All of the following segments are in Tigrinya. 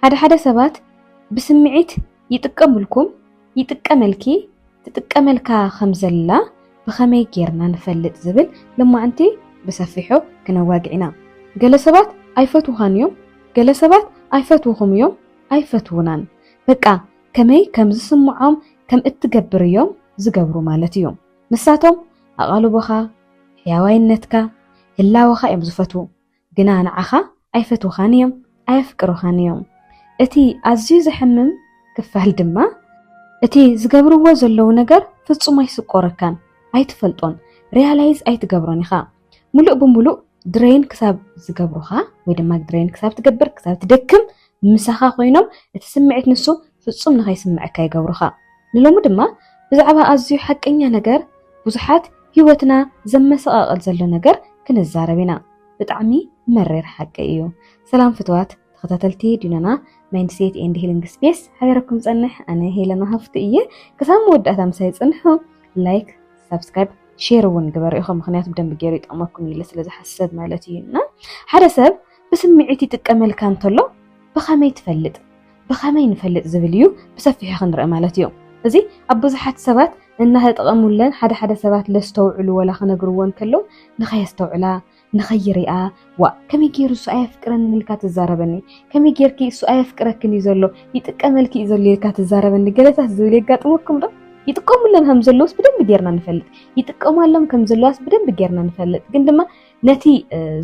ሓደ ሓደ ሰባት ብስምዒት ይጥቀምልኩም፣ ይጥቀመልኪ፣ ትጥቀመልካ ከም ዘላ ብኸመይ ጌርና ንፈልጥ ዝብል ሎማዕንቲ ብሰፊሑ ክነዋግዕ ኢና። ገለ ሰባት ኣይፈትዉኻን እዮም፣ ገለ ሰባት ኣይፈትዉኹም እዮም፣ ኣይፈትዉናን። በቃ ከመይ ከም ዝስምዖም ከም እትገብር እዮም ዝገብሩ ማለት እዩ። ንሳቶም ኣቓልቦኻ፣ ሕያዋይነትካ፣ ህላወኻ እዮም ዝፈትዉ። ግና ንዓኻ ኣይፈትዉኻን እዮም፣ ኣየፍቅሩኻን እዮም። እቲ ኣዝዩ ዘሕምም ክፋል ድማ፣ እቲ ዝገብርዎ ዘለዉ ነገር ፍጹም ኣይስቆረካን፣ ኣይትፈልጦን፣ ርያላይዝ ኣይትገብሮን ኢኻ፣ ምሉእ ብምሉእ ድረይን ክሳብ ዝገብሩኻ ወይ ድማ ድረይን ክሳብ ትገብር ክሳብ ትደክም ምሳኻ ኮይኖም እቲ ስምዒት ንሱ ፍጹም ንኸይስምዐካ ይገብሩኻ። ንሎሚ ድማ ብዛዕባ ኣዝዩ ሓቀኛ ነገር ብዙሓት ሂወትና ዘመሰቃቅል ዘሎ ነገር ክንዛረብ ኢና ብጣዕሚ መሪር ሓቂ እዩ ሰላም ፍትዋት ተኸታተልቲ ዲኖና ማይንድሴት ኤንድ ሂሊንግ ስፔስ ሓበረኩም ጸንሕ ኣነ ሄለና ሃፍቱ እየ ክሳብ መወዳእታ ምሳይ ጽንሑ ላይክ ሳብስክራይብ ሼር እውን ግበሩ ኢኹም ምክንያቱ ብደንብ ገይሩ ይጠቅመኩም ኢለ ስለ ዝሓስብ ማለት እዩ እና ሓደ ሰብ ብስምዒት ይጥቀመልካ እንተሎ ብኸመይ ትፈልጥ? ብኸመይ ንፈልጥ ዝብል እዩ ብሰፊሑ ክንርኢ ማለት እዩ። እዚ ኣብ ብዙሓት ሰባት እናተጠቐሙለን ሓደ ሓደ ሰባት ለስተውዕሉ ወላ ክነግርዎ እንከለው ንኸየስተውዕላ ንኸይሪኣ ዋእ ከመይ ገይሩ እሱ ኣየፍቅረንን ኢልካ ትዛረበኒ ከመይ ገይርኪ እሱ ኣየፍቅረክን እዩ ዘሎ ይጥቀመልኪ እዩ ዘሎ ኢልካ ትዛረበኒ ገለታት ዝብል የጋጥመኩም ዶ? ይጥቀሙለን ከም ዘለውስ ብደንብ ጌርና ንፈልጥ ይጥቀማሎም ከም ዘለዋስ ብደንብ ጌርና ንፈልጥ ግን ድማ ነቲ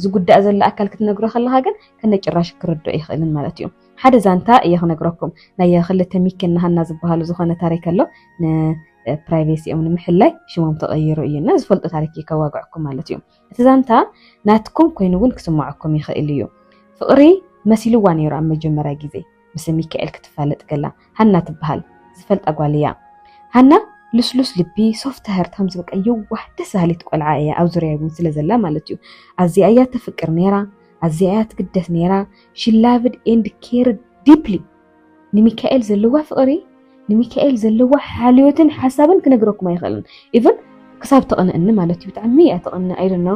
ዝጉዳእ ዘሎ ኣካል ክትነግሮ ከለካ ግን ከነጭራሽ ክርድኦ ይኽእልን ማለት እዩ ሓደ ዛንታ እየ ክነግረኩም ናይ ክልተ ሚኪ ናሃና ዝበሃሉ ዝኾነ ታሪክ ኣሎ ፕራይቬሲኦም ንምሕላይ ሽሞም ተቐይሩ እዩ እና ዝፈልጡ ታሪክ እዩ ከዋግዐኩም ማለት እዩ እቲ ዛንታ ናትኩም ኮይኑ እውን ክስምዐኩም ይኽእል እዩ ፍቕሪ መሲልዋ ነይሩ ኣብ መጀመርያ ግዜ ብስም ሚካኤል ክትፋለጥ ከላ ሃና ትበሃል ዝፈልጣ ጓል እያ ሃና ልስሉስ ልቢ ሶፍት ሀርት ከምዚ በቃ የዋህ ደስ በሃሊት ቆልዓ እያ ኣብ ዙርያ እውን ስለ ዘላ ማለት እዩ ኣዝያ እያ ተፍቅር ነይራ ኣዝያ እያ ትግደስ ነይራ ሽላቭድ ኤንድ ኬር ዲፕሊ ንሚካኤል ዘለዋ ፍቕሪ ንሚካኤል ዘለዋ ሓልዮትን ሓሳብን ክነግረኩም ኣይኽእልን ኢቨን ክሳብ ተቕንእኒ ማለት እዩ ብጣዕሚ እያ ተቕንእ ኣይደኖ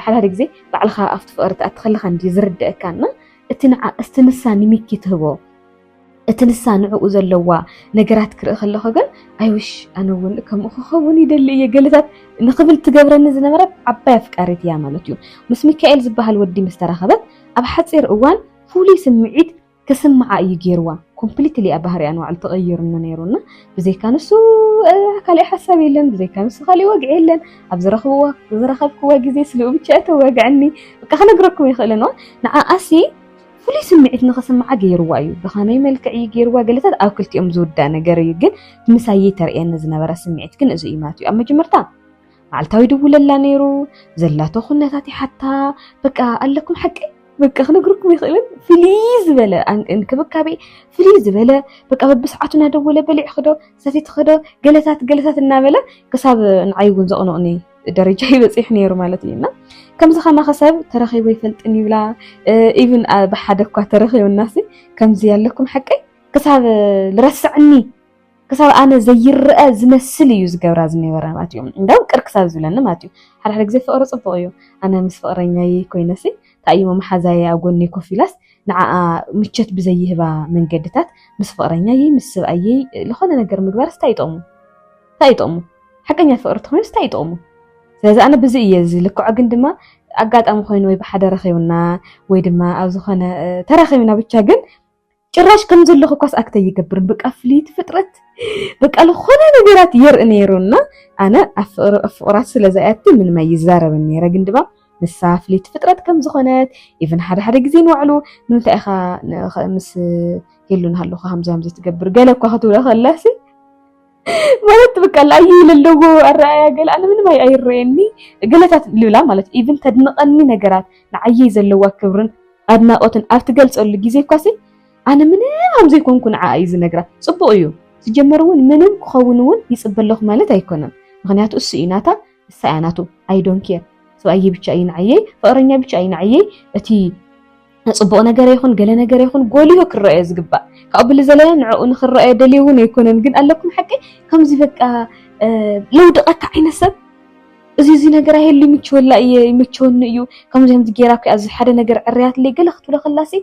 ሓዳደ ግዜ ባዕልኻ ኣብቲ ፍቕሪ ትኣቲ ከለኻ እንዲ ዝርድአካ እና እቲ ንዓ እስቲ ንሳ ንሚኪ ትህቦ እቲ ንሳ ንዕኡ ዘለዋ ነገራት ክርኢ ከለኹ ግን ኣይውሽ ኣነ እውን ከምኡ ክኸውን ይደሊ እየ ገለታት ንኽብል ትገብረኒ ዝነበረት ዓባይ ኣፍቃሪት እያ ማለት እዩ። ምስ ሚካኤል ዝበሃል ወዲ ምስ ተራኸበት ኣብ ሓጺር እዋን ፍሉይ ስምዒት ክስምዓ እዩ ገይርዋ። ኮምፕሊትሊ እያ ባህሪኣ ንባዕሉ ተቐይሩኒ ነይሩ እና ብዘይካ ንሱ ካሊእ ሓሳብ የለን፣ ብዘይካ ንሱ ካሊእ ወግዒ የለን፣ ኣብ ዝረኽብዎ ዝረኸብክዎ ግዜ ስልኡ ብቻ እዩ ተወግዐኒ በቃ ክነግረኩም ኣይኽእልን እዋ ንዓኣሲ ፍሉይ ስምዒት ንኽስምዓ ገይርዋ እዩ ብኸመይ መልክዕ እዩ ገይርዋ ገለታት ኣብ ክልቲኦም ዝውዳእ ነገር እዩ ግን ምሳየይ ተርእየኒ ዝነበረ ስምዒት ግን እዚ እዩ ማለት እዩ ኣብ መጀመርታ መዓልታዊ ድውለላ ነይሩ ዘላቶ ኩነታት ይሓታ በቃ ኣለኩም ሓቀይ በቃ ክነግርኩም ይኽእልን ፍልይ ዝበለ እንክብካቤ ፍልይ ዝበለ በቃ በብሰዓቱ እናደወለ በሊዕ ክዶ ሰፊት ክዶ ገለታት ገለታት እናበለ ክሳብ ንዓይ እውን ዘቕንቕኒ ደረጃ ይበፂሕ ነይሩ ማለት እዩ እና ከምዚ ከማኸ ሰብ ተረኺቦ ይፈልጥን ይብላ ኢቭን ብሓደ እኳ ተረኺቡናሲ ከምዚ ያለኩም ሓቀይ ክሳብ ልረስዐኒ ክሳብ ኣነ ዘይረኣ ዝመስል እዩ ዝገብራ ዝነበረ ማለት እዩ እንዳውም ቅር ክሳብ ዝብለኒ ማለት እዩ ሓደ ሓደ ግዜ ፍቕሪ ጽቡቕ እዩ ኣነ ምስ ፍቕረኛይ ኮይነሲ ታይሞ መሓዛየ ኣብ ጎነይ ኮፍ ኢላስ ንዓኣ ምቸት ብዘይህባ መንገድታት ምስ ፍቕረኛይ ምስ ስብኣየይ ዝኾነ ነገር ምግባርስ እንታይ ይጠቕሙ እንታይ ይጠቕሙ ሓቀኛ ፍቕሪ ተኾይኑስ እንታይ ይጠቕሙ ስለዚ ኣነ ብዚ እየ ዝልክዖ ግን ድማ ኣጋጣሚ ኮይኑ ወይ ብሓደ ረኺብና ወይ ድማ ኣብ ዝኾነ ተራኺብና ብቻ ግን ጭራሽ ከም ዘለኹ ኳስ ኣክት ኣይገብርን በቃ ፍልይቲ ፍጥረት በቃ ዝኾነ ነገራት የርኢ ነይሩ እና ኣነ ኣብ ፍቕራት ስለ ዝኣቲ ምንም ኣይዛረብን ነይረ ግን ድማ ንሳ ፍልይቲ ፍጥረት ከም ዝኾነት ኢቨን ሓደ ሓደ ግዜ ንባዕሉ ንምንታይ ኢኻ ምስ ሄሉ ንሃለኹ ሃምዚ ሃምዚ ትገብር ገለ እኳ ክትብሎ ከላሲ ማለት በቃ ላየ ለለዎ ኣረኣያ ገለ ኣነ ምንም ኣይረየኒ ገለታት ልብላ ማለት ኢቭን ተድንቐኒ ነገራት ንዓየይ ዘለዋ ክብርን ኣድናቖትን ኣብ ትገልጸሉ ግዜ እኳሲ ኣነ ምንም ከም ዘይኮንኩ ንዓኣ እዩ ዝነግራ። ጽቡቕ እዩ። ሲጀመር እውን ምንም ክኸውን እውን ይጽበ ኣለኹ ማለት ኣይኮነን። ምክንያቱ እሱ እዩ ናታ ንሳ እያ ናቱ ኣይ ዶን ኬር ሰብኣየይ ብቻ እዩ ንዓየይ ፍቅረኛ ብቻ እዩ ንዓየይ እቲ ፅቡቅ ነገር ይኹን ገለ ነገር ይኹን ጎሊሁ ክረኣዮ ዝግባእ ካብኡ ብሊ ዘለለ ንዕኡ ንክረኣዮ ደልዮ እውን ኣይኮነን ግን ኣለኩም ሓቂ ከምዚ በቃ ለውድቀካ ዓይነት ሰብ እዚ እዚ ነገር ኣይህሉ ይምችወላ እየ ይመቸወኒ እዩ ከምዚ ከምዚ ጌራ እኮ ኣብዚ ሓደ ነገር ዕርያትለይ ገለ ክትብሎ ከላሲ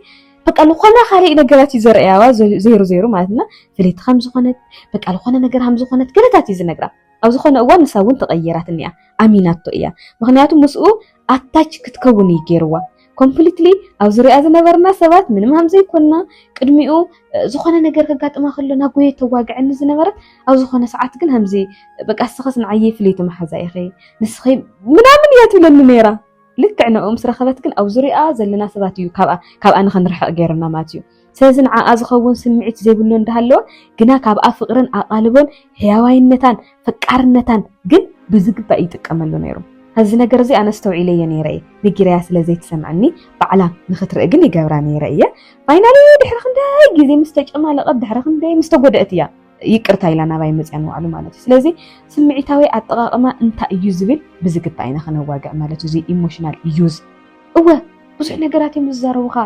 በቃ ዝኾነ ካልእ ነገራት እዩ ዘርእያዋ ዘይሩ ዘይሩ ማለት እና ፍልይቲ ከም ዝኾነት በቃ ዝኾነ ነገር ከም ዝኾነት ገለታት እዩ ዝነግራ ኣብ ዝኾነ እዋን ንሳ እውን ተቐይራትኒ እያ ኣሚናቶ እያ ምኽንያቱ ምስኡ ኣታች ክትከውን እዩ ገይርዋ ኮምፕሊትሊ ኣብ ዙሪኣ ዝነበርና ሰባት ምንም ሃም ዘይኮንና ቅድሚኡ ዝኾነ ነገር ከጋጥማ ከሎ ናጎየ ተዋግዐኒ ዝነበረት ኣብ ዝኾነ ሰዓት ግን ሃምዚ በቃ ንስኸስ ንዓየይ ፍልይቲ መሓዛ ኢኺ ንስኺ ምናምን እያ ትብለኒ ነይራ ልክዕ ንኡ ምስ ረኸበት ግን ኣብ ዙሪኣ ዘለና ሰባት እዩ ካብኣ ንኸንርሕቕ ገይርና ማለት እዩ ስለዚ ንዓኣ ዝኸውን ስምዒት ዘይብሉ እንዳሃለወ ግና ካብኣ ፍቕርን ኣቓልቦን ሕያዋይነታን ፈቃርነታን ግን ብዝግባእ ይጥቀመሉ ነይሩ። ነዚ ነገር እዚ ኣነ ኣስተውዒለዮ ነይረ እየ፣ ነጊረያ ስለ ዘይትሰምዐኒ ባዕላ ንኽትርኢ ግን ይገብራ ነይረ እየ። ፋይናሊ ድሕሪ ክንደይ ግዜ ምስ ተጨማለቐት ድሕሪ ክንደይ ምስ ተጎድአት እያ ይቅርታ ኢላ ናባይ መፅያ ንባዕሉ ማለት እዩ። ስለዚ ስምዒታዊ ኣጠቓቕማ እንታይ እዩ ዝብል ብዝግባእ ኢና ክነዋግዕ ማለት እዩ። እዚ ኢሞሽናል ዩዝ እወ ብዙሕ ነገራት እዮም ዝዛረቡኻ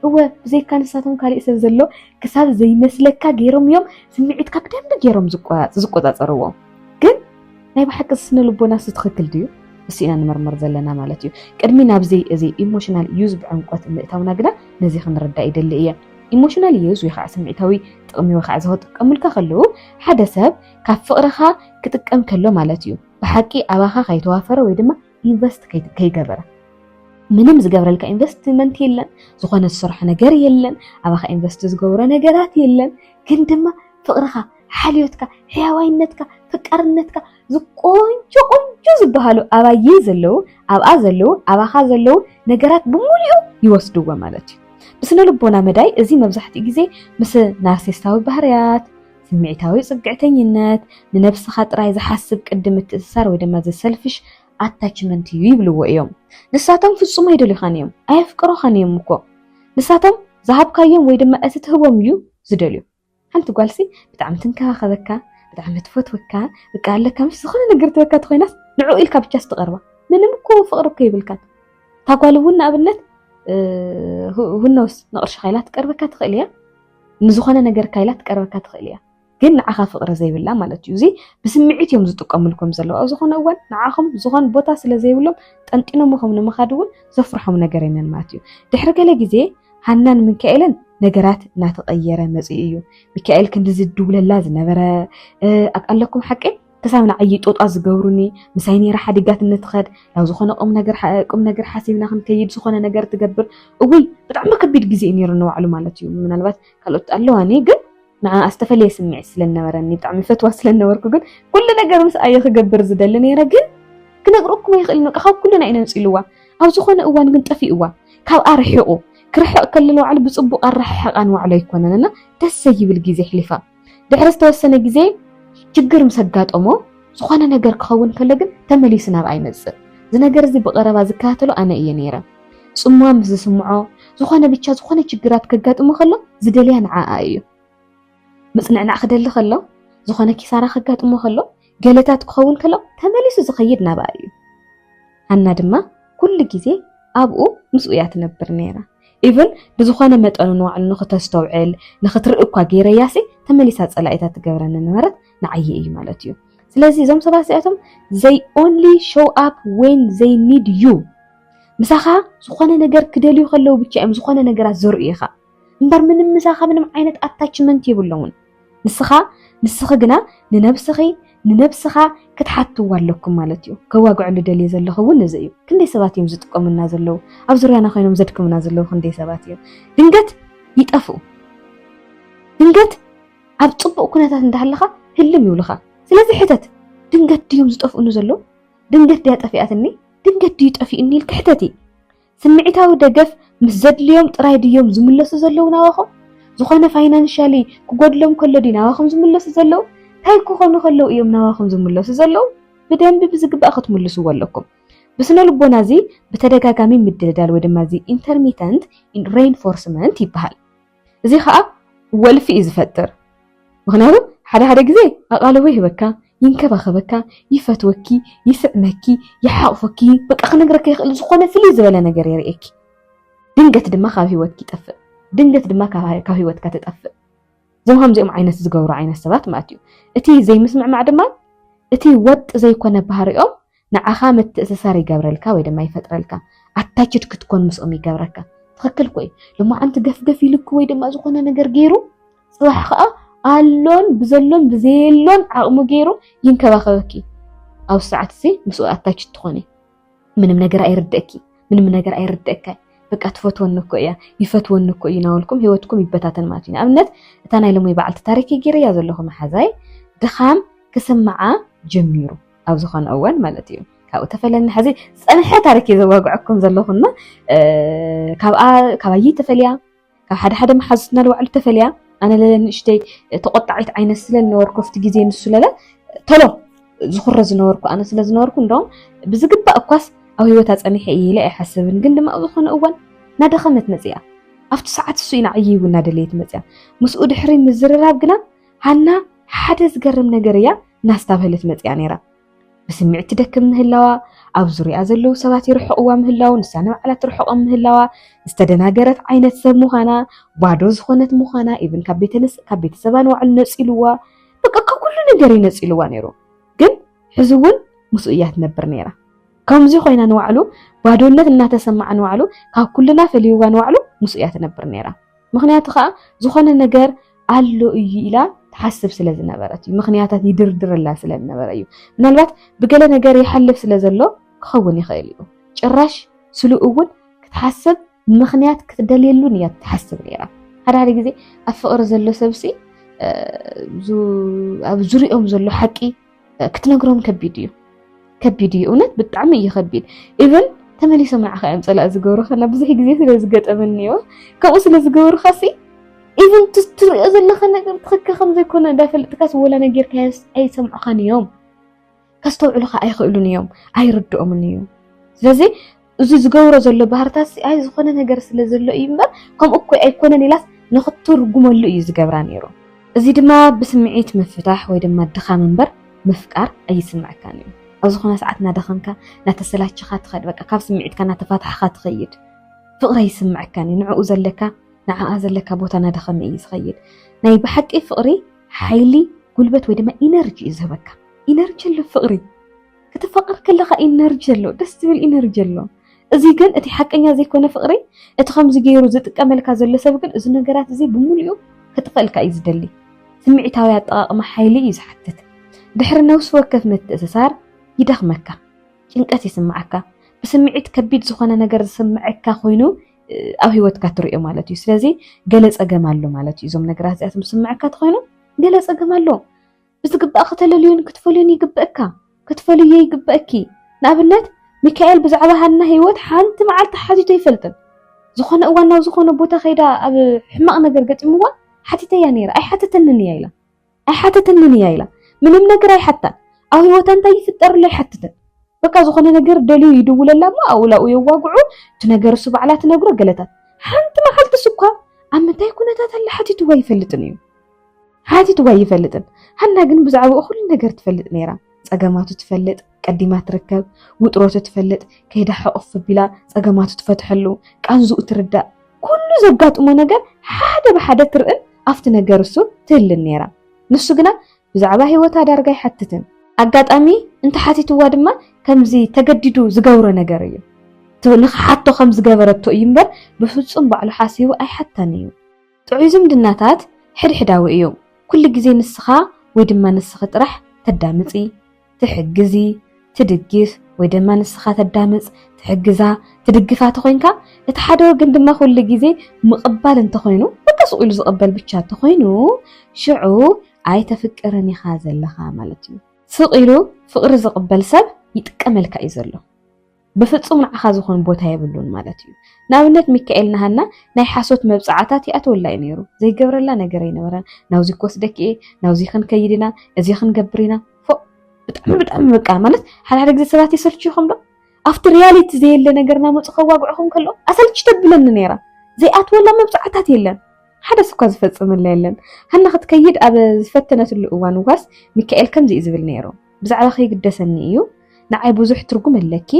እወ ብዘይካ ንሳቶም ካሊእ ሰብ ዘሎ ክሳብ ዘይመስለካ ገይሮም እዮም ስምዒትካ ብደንቢ ገይሮም ዝቆፃፀርዎ። ግን ናይ ብሓቂ ስነ ልቦናስ ትኽክል ድዩ? እሱ ኢና ንመርመር ዘለና ማለት እዩ። ቅድሚ ናብዚ እዚ ኢሞሽናል ዩዝ ብዕምቆት ምእታውና ግና ነዚ ክንርዳእ ይደሊ እየ። ኢሞሽናል ዩዝ ወይ ከዓ ስምዒታዊ ጥቕሚ ወይ ከዓ ዝኽጥቀሙልካ ከለዉ ሓደ ሰብ ካብ ፍቕርኻ ክጥቀም ከሎ ማለት እዩ። ብሓቂ ኣባኻ ከይተዋፈረ ወይ ድማ ኢንቨስት ከይገበረ ምንም ዝገብረልካ ኢንቨስትመንት የለን፣ ዝኾነ ዝሰርሖ ነገር የለን፣ ኣባኻ ኢንቨስት ዝገብሮ ነገራት የለን። ግን ድማ ፍቕርኻ፣ ሓልዮትካ፣ ሕያዋይነትካ፣ ፍቃርነትካ ዝቆንጆ ቆንጆ ዝበሃሉ ኣባየ ዘለዉ ኣብኣ ዘለዉ ኣባኻ ዘለዉ ነገራት ብምሉኡ ይወስድዎ ማለት እዩ። ብስነ ልቦና መዳይ እዚ መብዛሕትኡ ግዜ ምስ ናርሲስታዊ ባህርያት ስምዒታዊ ጽግዕተኝነት፣ ንነብስኻ ጥራይ ዝሓስብ ቅዲ ምትእስሳር ወይ ድማ the selfish attachment እዩ ይብልዎ እዮም። ንሳቶም ፍጹም ኣይደልዩኻን እዮም፣ ኣየፍቅሩኻን እዮም እኮ። ንሳቶም ዝሃብካዮም ወይ ድማ እቲ ትህቦም እዩ ዝደልዩ። ሓንቲ ጓልሲ ብጣዕሚ ትንከባኸበካ፣ ብጣዕሚ ትፈትወካ፣ በቃ ኣለካ ምሽ ዝኾነ ነገር ትበካ ተኾይናስ ንዕኡ ኢልካ ብቻ ስትቐርባ ምንም እኮ ፍቕሪ እኮ ይብልካን። እታ ጓል እውን ንኣብነት ሁነውስ ንቕርሽኻ ኢላ ትቀርበካ ትኽእል እያ። ንዝኾነ ነገር ካይላ ትቀርበካ ትኽእል እያ ግን ንዓኻ ፍቅሪ ዘይብላ ማለት እዩ እዚ ብስምዒት እዮም ዝጥቀምልኩም ዘለዉ ኣብ ዝኾነ እዋን ንዓኹም ዝኾን ቦታ ስለ ዘይብሎም ጠንጢኖምኹም ንምኻድ እውን ዘፍርሖም ነገር የለን ማለት እዩ ድሕሪ ገለ ግዜ ሃናን ምንካኤልን ነገራት እናተቐየረ መፅኡ እዩ። ሚካኤል ክንዲ ዝድውለላ ዝነበረ ኣለኩም ሓቂ ክሳብ ንዓይ ጦጣ ዝገብሩኒ ምሳይ ነይራ ሓዲጋት እንትኸድ ናብ ዝኾነ ቁም ነገር ቁም ነገር ሓሲብና ክንከይድ ዝኾነ ነገር ትገብር እውይ ብጣዕሚ ከቢድ ግዜ እዩ ነይሩ ንባዕሉ ማለት እዩ ምናልባት ካልኦት ኣለዋኒ ግን ንዓ ዝተፈለየ ስምዒት ስለነበረኒ ብጣዕሚ ፈትዋ ስለነበርኩ ግን ኩሉ ነገር ምስ ኣየ ክገብር ዝደሊ ነይረ ግን ክነግረኩም ኣይኽእልን በቃ ካብ ኩልና እዩ ነንፂልዋ ኣብ ዝኾነ እዋን ግን ጠፊእዋ ካብኣ ርሒቑ ክርሕቕ ከለለ ባዕሉ ብፅቡቕ ኣረሓሕቓ ንባዕሉ ኣይኮነን እና ደስ ዘይብል ግዜ ኣሕሊፋ ድሕሪ ዝተወሰነ ግዜ ችግር ምስ ኣጋጠሞ ዝኾነ ነገር ክኸውን ከሎ ግን ተመሊሱ ናብኣ ይመጽእ። እዚ ነገር እዚ ብቐረባ ዝከታተሎ ኣነ እየ ነይረ። ጽምዋን ምስ ዝስምዖ ዝኾነ ብቻ ዝኾነ ችግራት ከጋጥሞ ከሎ ዝደልያ ንዓኣ እዩ። ምጽንዕናዕ ክደሊ ከሎ፣ ዝኾነ ኪሳራ ከጋጥሞ ከሎ ገለታት ክኸውን ከሎ ተመሊሱ ዝኸይድ ናብኣ እዩ። ሃና ድማ ኩሉ ግዜ ኣብኡ ምስኡ እያ ትነብር ነይራ። ኢቨን ብዝኾነ መጠኑ ንባዕሉ ንኽተስተውዕል ንኽትርኢ እኳ ገይረያሲ ተመሊሳ ጸላኢታ ትገብረኒ ነበረት ንዓየ እዩ ማለት እዩ። ስለዚ እዞም ሰባት እዚኣቶም ዘይ ኦንሊ ሾው ኣፕ ዌን ዘይ ኒድ ዩ ምሳኻ ዝኾነ ነገር ክደልዩ ከለዉ ብቻ እዮም ዝኾነ ነገራት ዘርኡኻ። እምበር ምንም ምሳኻ ምንም ዓይነት ኣታችመንት የብሎምን። ንስኻ ንስኺ ግና ንነብስኺ ንነብስኻ ክትሓትዋ ኣለኩም ማለት እዩ። ከዋግዐሉ ደልየ ዘለኹ እውን እዚ እዩ። ክንደይ ሰባት እዮም ዝጥቀሙና ዘለዉ? ኣብ ዙርያና ኮይኖም ዘድክሙና ዘለዉ ክንደይ ሰባት እዮም? ድንገት ይጠፍኡ። ድንገት ኣብ ጽቡቕ ኩነታት እንዳሃለኻ ህልም ይብሉኻ። ስለዚ ሕተት፣ ድንገት ድዮም ዝጠፍኡኒ ዘለዉ? ድንገት ድያ ጠፊኣትኒ? ድንገት ድዩ ጠፊኡኒ ኢልኪ ሕተቲ። ስምዒታዊ ደገፍ ምስ ዘድልዮም ጥራይ ድዮም ዝምለሱ ዘለዉ ናባኹም? ዝኾነ ፋይናንሻሊ ክጎድሎም ከሎ ድዩ ናባኹም ዝምለሱ ዘለዉ? ታይ ክኾኑ ከለዉ እዮም ናባኹም ዝምለሱ ዘለዉ? ብደንቢ ብዝግባእ ክትምልስዎ ኣለኩም። ብስነ ልቦና እዚ ብተደጋጋሚ ምድልዳል ወይ ድማ እዚ ኢንተርሚተንት ሬንፎርስመንት ይበሃል። እዚ ኸኣ ወልፊ እዩ ዝፈጥር ምኽንያቱ ሓደ ሓደ ግዜ ኣቓልቦ ይህበካ ይንከባኸበካ ይፈትወኪ ይስዕመኪ ይሓቑፈኪ በቃ ክነግረኪ ኣይክእል ዝኾነ ፍልይ ዝበለ ነገር የርእየኪ ድንገት ድማ ካብ ህይወትኪ ይጠፍእ ድንገት ድማ ካብ ህይወትካ ትጠፍእ እዞም ከምዚኦም ዓይነት ዝገብሩ ዓይነት ሰባት ማለት እዩ እቲ ዘይምስምዕማዕ ድማ እቲ ወጥ ዘይኮነ ባህሪኦም ንዓኻ ምትእስሳር ይገብረልካ ወይ ድማ ይፈጥረልካ ኣታችድ ክትኮን ምስኦም ይገብረካ ትኽክል እኮ እዩ ልማዓንቲ ገፍገፍ ኢልኩ ወይ ድማ ዝኾነ ነገር ገይሩ ፅባሕ ከዓ ኣሎን ብዘሎን ብዘየሎን ዓቕሙ ገይሩ ይንከባኸበኪ ኣብ ሰዓት እዚ ምስኡ ኣታች ትኾኒ ምንም ነገር ኣይርድእኪ ምንም ነገር ኣይርድእካ በቃ ትፈትወኒ እኮ እያ ይፈትወኒ እኮ እዩ ናበልኩም ሂወትኩም ይበታተን ማለት እዩ ንኣብነት እታ ናይ ሎሚ በዓልቲ ታሪክ ገይረያ ዘለኹ መሓዛይ ድኻም ክስምዓ ጀሚሩ ኣብ ዝኾነ እዋን ማለት እዩ ካብኡ ተፈለና ሕዚ ዝፀንሐ ታሪክ እዩ ዘዋግዐኩም ዘለኹ እና ካብኣ ካባይ ተፈልያ ካብ ሓደ ሓደ መሓዙትና ልባዕሉ ተፈልያ ኣነ ለለ ንእሽተይ ተቆጣዒት ዓይነት ስለ ዝነበርኩ ኣብቲ ግዜ ንሱ ለለ ተሎ ዝኩረ ዝነበርኩ ኣነ ስለ ዝነበርኩ እንደውም ብዝግባእ እኳስ ኣብ ሂወታ ፀኒሐ እየ ኢለ ኣይሓስብን ግን ድማ ኣብ ዝኾነ እዋን እናደኸመት መፅያ ኣብቲ ሰዓት እሱ ኢና ዕይይቡ እናደለየት መፅያ ምስኡ ድሕሪ ምዝርራብ ግና ሃና ሓደ ዝገርም ነገር እያ ናስታብሀለት መፅያ ነይራ። ብስምዒት ትደክም ምህላዋ፣ ኣብ ዙርያ ዘለዉ ሰባት ይርሕቕዋ ምህላዉ፣ ንሳ ንባዕላ ትርሕቖም ምህላዋ፣ ዝተደናገረት ዓይነት ሰብ ምዃና፣ ባዶ ዝኾነት ምዃና፣ ኢብን ካብ ቤተሰባ ንባዕሉ ነፂልዋ፣ በቃ ካብ ኩሉ ነገር እዩ ነፂልዋ ነይሩ። ግን ሕዚ እውን ምስኡ እያ ትነብር ነይራ። ከምዚ ኮይና ንባዕሉ ባዶነት እናተሰማዓ ንባዕሉ ካብ ኩልና ፈልይዋ ንባዕሉ ምስኡ እያ ትነብር ነይራ። ምኽንያቱ ከኣ ዝኾነ ነገር ኣሎ እዩ ኢላ ትሓስብ ስለ ዝነበረት እዩ ምኽንያታት ይድርድረላ ስለ ዝነበረ እዩ ምናልባት ብገለ ነገር ይሓልፍ ስለ ዘሎ ክኸውን ይኽእል እዩ ጭራሽ ስሉ እውን ክትሓስብ ምኽንያት ክትደልየሉን እያ ትሓስብ ነይራ ሓደ ሓደ ግዜ ኣብ ፍቕሪ ዘሎ ሰብሲ ኣብ ዙሪኦም ዘሎ ሓቂ ክትነግሮም ከቢድ እዩ ከቢድ እዩ እውነት ብጣዕሚ እዩ ከቢድ ኢቨን ተመሊሶም ንዓኻ እዮም ፀላእ ዝገብሩኻ እና ብዙሕ ግዜ ስለ ዝገጠመኒ እዮ ከምኡ ስለ ዝገበሩኻ ሲ ኢቨን ትሪኦ ዘለኻ ነገር ትኽክል ከም ዘይኮነ እንዳፈለጥካስ ወላ ነጊርካዮስ ኣይሰምዑኻን እዮም ከስተውዕሉኻ ኣይኽእሉን እዮም ኣይርድኦምን እዩ ስለዚ እዚ ዝገብሮ ዘሎ ባህርታትሲ ኣይ ዝኾነ ነገር ስለ ዘሎ እዩ እምበር ከምኡ እኮ ኣይኮነን ኢላስ ንኽትትርጉመሉ እዩ ዝገብራ ነይሩ። እዚ ድማ ብስምዒት ምፍታሕ ወይ ድማ ድኻም እምበር ምፍቃር ኣይስምዐካን እዩ። ኣብ ዝኾነ ሰዓት እናደኸምካ እናተሰላቸኻ ትኸድ በቃ ካብ ስምዒትካ እናተፋታሕኻ ትኸይድ ፍቕሪ ኣይስምዐካን እዩ። ንዕኡ ዘለካ ንዓኣ ዘለካ ቦታ እናደኸመ እዩ ዝኸይድ። ናይ ብሓቂ ፍቕሪ ሓይሊ ጉልበት ወይ ድማ ኢነርጂ እዩ ዝህበካ። ኢነርጂ ኣሎ ፍቕሪ። ከተፋቅር ከለኻ ኢነርጂ ኣሎ ደስ ዝብል ኢነርጂ ኣሎ እዚ ግን እቲ ሓቀኛ ዘይኮነ ፍቅሪ እቲ ከምዚ ገይሩ ዝጥቀመልካ ዘሎ ሰብ ግን እዚ ነገራት እዚ ብምሉኡ ከጥፈእልካ እዩ ዝደሊ ስምዒታዊ ኣጠቃቅማ ሓይሊ እዩ ዝሓትት ድሕሪ ነብሲ ወከፍ ምትእስሳር ይደኽመካ ጭንቀት ይስምዓካ ብስምዒት ከቢድ ዝኾነ ነገር ዝስምዐካ ኮይኑ ኣብ ህይወትካ ትሪኦ ማለት እዩ ስለዚ ገለ ፀገም ኣሎ ማለት እዩ እዞም ነገራት እዚኣቶም ዝስምዐካ ተኮይኑ ገለ ፀገም ኣሎ ብዝግባእ ከተለልዮን ክትፈልዮን ይግበእካ፣ ክትፈልዮ ይግበእኪ። ንኣብነት ሚካኤል ብዛዕባ ሃና ህይወት ሓንቲ መዓልቲ ሓቲቶ ኣይፈልጥን። ዝኾነ እዋን ናብ ዝኾነ ቦታ ከይዳ ኣብ ሕማቕ ነገር ገጢምዋ ሓቲተያ ነይራ። ኣይሓተተንን እያ ኢላ ኣይሓተተንን እያ ኢላ ምንም ነገር ኣይሓታን። ኣብ ህይወታ እንታይ ይፍጠር ኣሎ ኣይሓትትን። በቃ ዝኾነ ነገር ደልዩ ይድውለላ እሞ ኣውላኡ የዋግዑ እቲ ነገር እሱ ባዕላ ትነግሮ ገለታት ሓንቲ መዓልቲ ስኳ ኣብ ምንታይ ኩነታት ኣላ ሓቲትዋ ኣይፈልጥን እዩ። ሓቲትዎ ኣይፈልጥን ሃና ግን ብዛዕባኡ ኩሉ ነገር ትፈልጥ ነይራ ጸገማቱ ትፈልጥ ቀዲማ ትርከብ ውጥረቱ ትፈልጥ ከይዳ ሕቕፍ ቢላ ጸገማቱ ትፈትሐሉ ቃንዝኡ ትርዳእ ኩሉ ዘጋጥሞ ነገር ሓደ ብሓደ ትርእን ኣብቲ ነገር እሱ ትህልን ነይራ ንሱ ግና ብዛዕባ ህይወታ ዳርጋ ኣይሓትትን ኣጋጣሚ እንተሓቲትዋ ድማ ከምዚ ተገዲዱ ዝገብሮ ነገር እዩ ንክሓቶ ከም ዝገበረቶ እዩ እምበር ብፍጹም ባዕሉ ሓሲቡ ኣይሓታን እዩ ጥዑይ ዝምድናታት ሕድሕዳዊ እዩ። ኩሉ ግዜ ንስኻ ወይ ድማ ንስኺ ጥራሕ ተዳምጺ፣ ትሕግዚ፣ ትድግፍ ወይ ድማ ንስኻ ተዳምጽ፣ ትሕግዛ፣ ትድግፋ ተኾይንካ እቲ ሓደ ወገን ድማ ኩሉ ግዜ ምቕባል እንተኾይኑ በቃ ስቕ ኢሉ ዝቕበል ብቻ እንተኾይኑ ሽዑ ኣይተፍቅርን ኢኻ ዘለኻ ማለት እዩ። ስቕ ኢሉ ፍቕሪ ዝቕበል ሰብ ይጥቀመልካ እዩ ዘሎ። ብፍጹም ንዓኻ ዝኾን ቦታ የብሉን ማለት እዩ። ንኣብነት ሚካኤል ንሃና ናይ ሓሶት መብጽዓታት ይኣትወላ እዩ ነይሩ። ዘይገብረላ ነገር ኣይነበረን። ናብዚ ክወስደኪ እየ፣ ናብዚ ክንከይድ ኢና፣ እዚ ክንገብር ኢና። ፎእ ብጣዕሚ ብጣዕሚ በቃ ማለት ሓደ ሓደ ግዜ ሰባት የሰልችዩኹም ዶ? ኣብቲ ሪያሊቲ ዘየለ ነገር ናመጹ ከዋግዕኹም ከሎ ኣሰልቺ ተብለኒ ነይራ። ዘይኣትወላ መብጽዓታት የለን። ሓደስ እኳ ዝፈጽመላ የለን። ሃና ክትከይድ ኣብ ዝፈተነትሉ እዋን ዋስ ሚካኤል ከምዚ እዩ ዝብል ነይሩ። ብዛዕባኺ ይግደሰኒ እዩ ንዓይ ብዙሕ ትርጉም ኣለኪ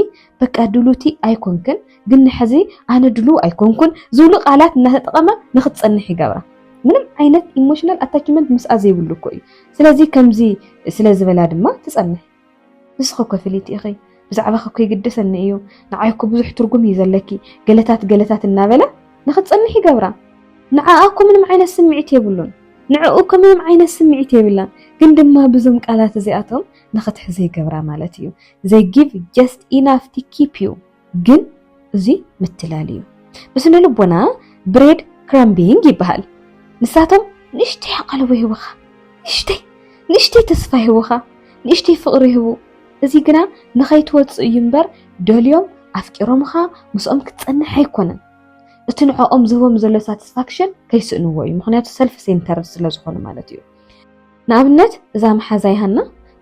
በቃ ድሉቲ ኣይኮንክን ግን ንሕዚ ኣነ ድሉ ኣይኮንኩን ዝብሉ ቃላት እናተጠቐመ ንክትፀንሕ ይገብራ ምንም ዓይነት ኢሞሽናል ኣታችመንት ምስኣ ዘይብሉ እኮ እዩ ስለዚ ከምዚ ስለ ዝበላ ድማ ትጸንሕ ንስኺ እኮ ፍልይቲ ኢኺ ብዛዕባኺ እኮ ይግደሰኒ እዩ፣ ንዓይ እኮ ብዙሕ ትርጉም እዩ ዘለኪ፣ ገለታት ገለታት እናበለ ንኽትጸንሕ ይገብራ። ንዓኣ እኮ ምንም ዓይነት ስምዒት የብሉን፣ ንዕኡ እኮ ምንም ዓይነት ስምዒት የብላን፣ ግን ድማ ብዞም ቃላት እዚኣቶም ንኽትሕዞ ይገብራ ማለት እዩ። They give just enough to keep you ግን እዚ ምትላል እዩ። ብስነ ልቦና ብሬድ ክራምቢንግ ይበሃል። ንሳቶም ንእሽተይ ኣቓልቦ ይህቡኻ፣ ንእሽተይ ንእሽተይ ተስፋ ይህቡኻ፣ ንእሽተይ ፍቕሪ ይህቡ። እዚ ግና ንኸይትወጽእ እዩ እምበር ደልዮም ኣፍቂሮምኻ ምስኦም ክትጸንሕ ኣይኮነን። እቲ ንዕኦም ዝህቦም ዘሎ ሳትስፋክሽን ከይስእንዎ እዩ፣ ምኽንያቱ ሰልፍ ሴንተርድ ስለ ዝኾኑ ማለት እዩ። ንኣብነት እዛ መሓዛይ ሃና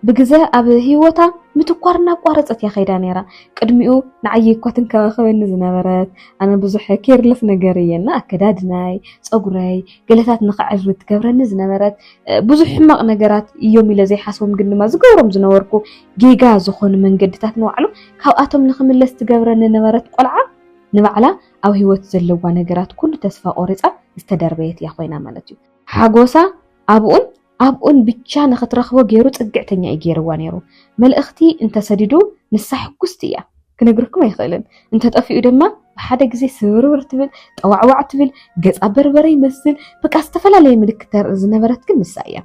ብግዘ ኣብ ህይወታ ምትኳር እናቋረፀት እያ ከይዳ ነይራ ቅድሚኡ ንዓይ እኳ ትንከባኸበኒ ዝነበረት ኣነ ብዙሕ ኬርለስ ነገር እየ እና ኣከዳድናይ ፀጉረይ ገለታት ንክዕርብ ትገብረኒ ዝነበረት እ፣ ብዙሕ ሕማቕ ነገራት እዮም ኢለ ዘይሓስቦም ግን ድማ ዝገብሮም ዝነበርኩ ጌጋ ዝኾኑ መንገድታት ንባዕሉ ካብኣቶም ንክምለስ ትገብረኒ ነበረት ቆልዓ ንባዕላ ኣብ ህይወት ዘለዋ ነገራት ኩሉ ተስፋ ቆሪፃ ዝተደርበየት እያ ኮይና ማለት እዩ ሓጎሳ ኣብኡን ኣብኡን ብቻ ንኽትረኽቦ ገይሩ ፅግዕተኛ እዩ ገይርዋ ነይሩ። መልእኽቲ እንተሰዲዱ ንሳ ሕጉስቲ እያ። ክነግረኩም ኣይኽእልን። እንተጠፊኡ ድማ ብሓደ ግዜ ስብርብር ትብል፣ ጠዋዕዋዕ ትብል፣ ገፃ በርበረ ይመስል፣ በቃ ዝተፈላለየ ምልክት ተርኢ ዝነበረት ግን ንሳ እያ።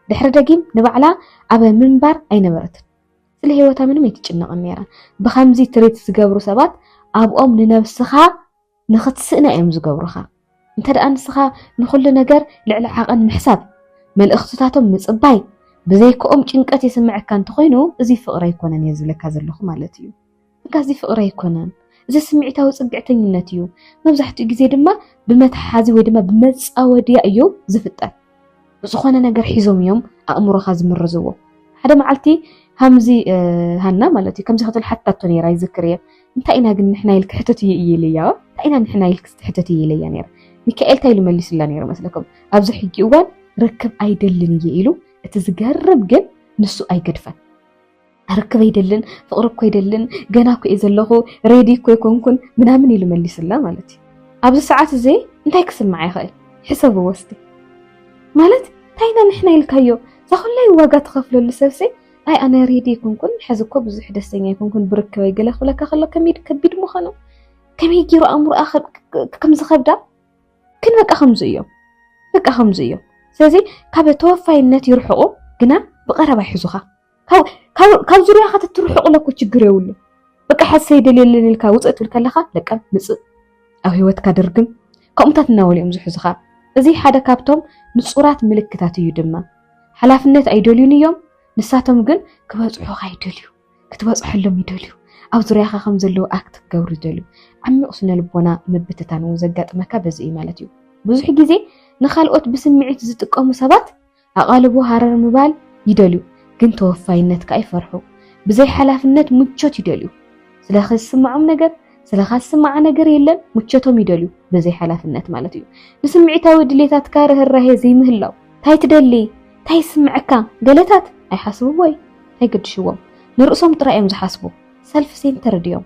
ድሕሪ ደጊም ንባዕላ ኣብ ምንባር ኣይነበረትን። ስለ ህይወታ ምንም ኣይትጭነቕን ነይራ። ብኸምዚ ትሪት ዝገብሩ ሰባት ኣብኦም ንነብስኻ ንኽትስእና እዮም ዝገብሩኻ። እንተ ደኣ ንስኻ ንኹሉ ነገር ልዕሊ ዓቐን ምሕሳብ፣ መልእኽትታቶም ምጽባይ፣ ብዘይክኦም ጭንቀት የስምዐካ እንተኾይኑ እዚ ፍቕሪ ኣይኮነን እየ ዝብለካ ዘለኹ ማለት እዩ። እካ እዚ ፍቕሪ ኣይኮነን፣ እዚ ስምዒታዊ ጽግዕተኝነት እዩ። መብዛሕትኡ ግዜ ድማ ብመትሓሓዚ ወይ ድማ ብመጻወድያ እዩ ዝፍጠር። ዝኾነ ነገር ሒዞም እዮም ኣእምሮኻ ዝምርዝዎ። ሓደ መዓልቲ ሃምዚ ሃና ማለት እዩ ከምዚ ክትብል ሓታቶ ነይራ ይዝክር እየ እንታይ ኢና ግን ንሕና ኢልክ ሕተት እዩ እዩ ኢለያ እንታይ ኢና ንሕና ኢልክ ትሕተት እዩ ኢለያ ነይረ ሚካኤል እንታይ ኢሉ መሊሱላ ነይሩ መስለኩም ኣብዚ ሕጂ እዋን ርክብ ኣይደልን እየ ኢሉ እቲ ዝገርም ግን ንሱ ኣይገድፈን ኣርክብ ኣይደልን ፍቅሪ እኮ ኣይደልን ገና እኮ እየ ዘለኹ ሬዲ እኮ ኣይኮንኩን ምናምን ኢሉ መሊሱላ ማለት እዩ ኣብዚ ሰዓት እዚ እንታይ ክስምዓ ይኽእል ሕሰቡ ወስቲ ማለት እንታይ ኢና ንሕና ኢልካዮ እዛ ኩላይ ዋጋ ትኸፍለሉ ሰብሲ ኣይ ኣነ ሬዲ ኣይኮንኩን ሕዚ እኮ ብዙሕ ደስተኛ ኣይኮንኩን ብርክበይ ገለ ክብለካ ከሎ ከመይ ከቢድ ምዃኑ ከመይ ገይሩ ኣእምሮኣ ከም ዝኸብዳ ግን በቃ ከምዚ እዮም በቃ ከምዚ እዮም ስለዚ ካብ ተወፋይነት ይርሕቑ ግና ብቐረባ ይሕዙኻ ካብ ዙርያኻ ተትርሕቑለ እኮ ችግር የብሉ በቃ ሕዚ ሰይደል የለን ኢልካ ውፅእ ትብል ከለኻ ለቀም ምፅእ ኣብ ሂወትካ ድርግም ከምኡታት እናበሉ እዮም ዝሕዙኻ እዚ ሓደ ካብቶም ንፁራት ምልክታት እዩ ድማ ሓላፍነት ኣይደልዩን እዮም ንሳቶም ግን ክበፅሑኻ ይደልዩ ክትበፅሐሎም ይደልዩ ኣብ ዙርያኻ ከም ዘለዉ ኣክት ክገብሩ ይደልዩ ዓሚቕ ስነ ልቦና ምብትታን እውን ዘጋጥመካ በዚ እዩ ማለት እዩ ብዙሕ ግዜ ንካልኦት ብስምዒት ዝጥቀሙ ሰባት ኣቓልቦ ሃረር ምባል ይደልዩ ግን ተወፋይነት ከኣ ይፈርሑ። ብዘይ ሓላፍነት ምቾት ይደልዩ። ስለኺ ዝስምዖም ነገር፣ ስለኻ ዝስምዓ ነገር የለን፣ ምቾቶም ይደልዩ ብዘይ ሓላፍነት ማለት እዩ። ንስምዒታዊ ድሌታትካ ርህራሄ ዘይምህላው። ታይ ትደሊ? ታይ ይስምዐካ? ገለታት ኣይሓስብዎይ ኣይገድሽዎም ንርእሶም ጥራይ እዮም ዝሓስቡ ሰልፍ ሴንተርድ እዮም።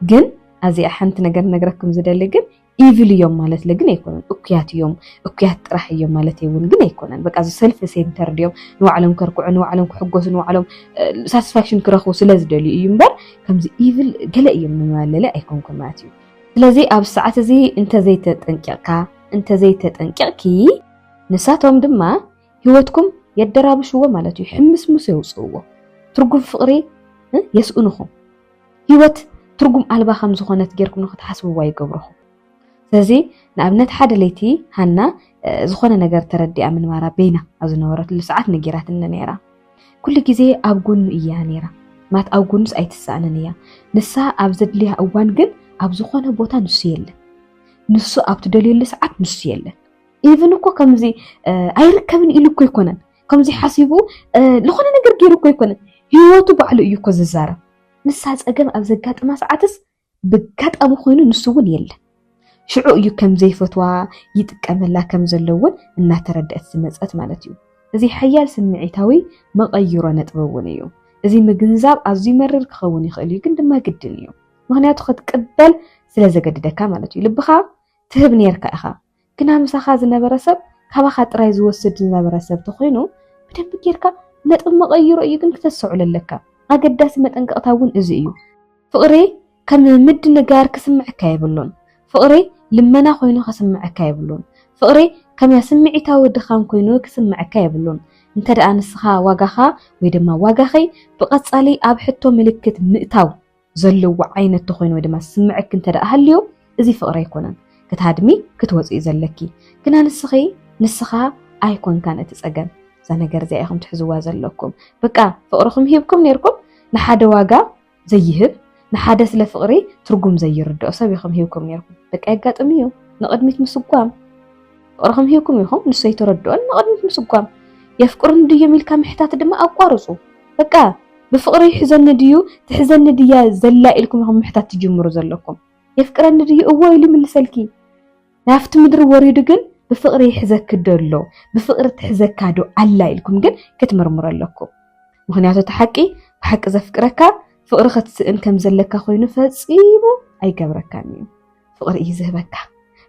ግን ኣዚኣ ሓንቲ ነገር ነግረኩም ዝደሊ ግን ኢቪል እዮም ማለት ግን ኣይኮነን። እኩያት እዮም እኩያት ጥራሕ እዮም ማለት እውን ግን ኣይኮነን። በቃ ሰልፊ ሴንተር ድዮም ንባዕሎም ከርክዑ፣ ንባዕሎም ክሕጎሱ፣ ንባዕሎም ሳቲስፋክሽን ክረኽቡ ስለ ዝደልዩ እዩ እምበር ከምዚ ኢቪል ገለ እዮም ንመለለ ኣይኮንኩን ማለት እዩ። ስለዚ ኣብ ሰዓት እዚ እንተዘይተጠንቂቕካ እንተዘይተጠንቂቕኪ ንሳቶም ድማ ህይወትኩም የደራብሽዎ ማለት እዩ። ሕምስምሶ የውፅእዎ፣ ትርጉም ፍቕሪ የስእንኹም። ህይወት ትርጉም ኣልባ ከም ዝኾነት ጌርኩም ንኽትሓስብዋ ይገብረኹም። ስለዚ ንኣብነት ሓደ ለይቲ ሃና ዝኾነ ነገር ተረዲኣ ምንባራ በይና ኣብ ዝነበረትሉ ሰዓት ነጊራትኒ ነይራ። ኩሉ ግዜ ኣብ ጎኑ እያ ነይራ ማለት ኣብ ጎኑስ ኣይትሰኣንን እያ። ንሳ ኣብ ዘድልያ እዋን ግን ኣብ ዝኾነ ቦታ ንሱ የለን። ንሱ ኣብ ትደልየሉ ሰዓት ንሱ የለን። ኢቭን እኮ ከምዚ ኣይርከብን ኢሉ እኮ ኣይኮነን ከምዚ ሓሲቡ ዝኾነ ነገር ገይሩ እኮ ኣይኮነን ህይወቱ ባዕሉ እዩ እኮ ዝዛረብ። ንሳ ፀገም ኣብ ዘጋጥማ ሰዓትስ ብጋጣሚ ኮይኑ ንሱ እውን የለ ሽዑ እዩ ከም ዘይፈትዋ ይጥቀመላ ከም ዘሎ እውን እናተረድአት ዝመፀት ማለት እዩ። እዚ ሓያል ስምዒታዊ መቐይሮ ነጥቢ እውን እዩ። እዚ ምግንዛብ ኣዝዩ መርር ክኸውን ይኽእል እዩ፣ ግን ድማ ግድን እዩ። ምክንያቱ ክትቅበል ስለ ዘገድደካ ማለት እዩ። ልብኻ ትህብ ነርካ ኢኻ፣ ግና ምሳኻ ዝነበረ ሰብ ካባኻ ጥራይ ዝወስድ ዝነበረ ሰብ ተኾይኑ ብደንቢ ጌርካ ነጥቢ መቐይሮ እዩ ግን ክተስተውዕል ኣለካ። ኣገዳሲ መጠንቀቕታ እውን እዚ እዩ። ፍቕሪ ከም ምድንጋር ክስምዐካ የብሉን። ፍቕሪ ልመና ኮይኑ ከስምዐካ የብሉን። ፍቕሪ ከም ስምዒታዊ ድኻም ኮይኑ ክስምዐካ የብሉን። እንተ ደኣ ንስኻ ዋጋኻ ወይ ድማ ዋጋኺ ብቐጻሊ ኣብ ሕቶ ምልክት ምእታው ዘለዎ ዓይነት ተኾይኑ ወይ ድማ ዝስምዐኪ እንተ ደኣ ሃልዩ እዚ ፍቕሪ ኣይኮነን ክትሃድሚ ክትወፅኢ ዘለኪ ግና ንስኺ ንስኻ ኣይኮንካን እቲ ፀገም እዛ ነገር እዚኣ ኢኹም ትሕዝዋ ዘለኩም በቃ ፍቕርኹም ሂብኩም ነይርኩም ንሓደ ዋጋ ዘይህብ ንሓደ ስለ ፍቕሪ ትርጉም ዘይርድኦ ሰብ ኢኹም ሂብኩም ነይርኩም በቃ የጋጥም እዩ ንቕድሚት ምስጓም ፍቕርኹም ሂብኩም ኢኹም ንሱ ኣይተረድኦን ንቕድሚት ምስጓም የፍቅሩን ድዮም ኢልካ ምሕታት ድማ ኣቋርፁ በቃ ብፍቕሪ ይሕዘኒ ድዩ ትሕዘኒ ድያ ዘላ ኢልኩም ኢኹም ምሕታት ትጅምሩ ዘለኩም። የፍቅረኒ ድዩ እዎ ኢሉ ይምልሰልኪ። ናብቲ ምድሪ ወሪዱ ግን ብፍቕሪ ይሕዘኪ ዶ ኣሎ ብፍቕሪ ትሕዘካ ዶ ኣላ ኢልኩም ግን ክትምርምሩ ኣለኩም። ምክንያቱ እቲ ሓቂ ብሓቂ ዘፍቅረካ ፍቕሪ ክትስእን ከም ዘለካ ኮይኑ ፈጺሙ ኣይገብረካን እዩ። ፍቕሪ እዩ ዝህበካ፣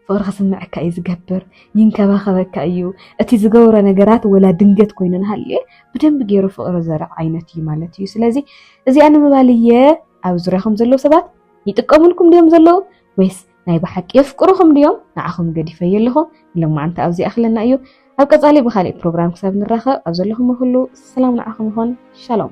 ፍቕሪ ክስምዐካ እዩ ዝገብር፣ ይንከባኸበካ እዩ። እቲ ዝገብሮ ነገራት ወላ ድንገት ኮይኑ ንሃልየ ብደንብ ገይሩ ፍቕሪ ዘርዕ ዓይነት እዩ ማለት እዩ። ስለዚ እዚኣ ንምባል እየ ኣብ ዙርያኹም ዘለዉ ሰባት ይጥቀሙልኩም ድዮም ዘለዉ ወይስ ናይ ብሓቂ የፍቅሩኹም ድዮም ንዓኹም ገዲፈዮ ኣለኹ። ንሎማዓንቲ ኣብዚ ኣኽለና እዩ። ኣብ ቀጻሊ ብካሊእ ፕሮግራም ክሳብ ንራኸብ ኣብ ዘለኹም ኩሉ ሰላም ንዓኹም ይኹን። ሻሎም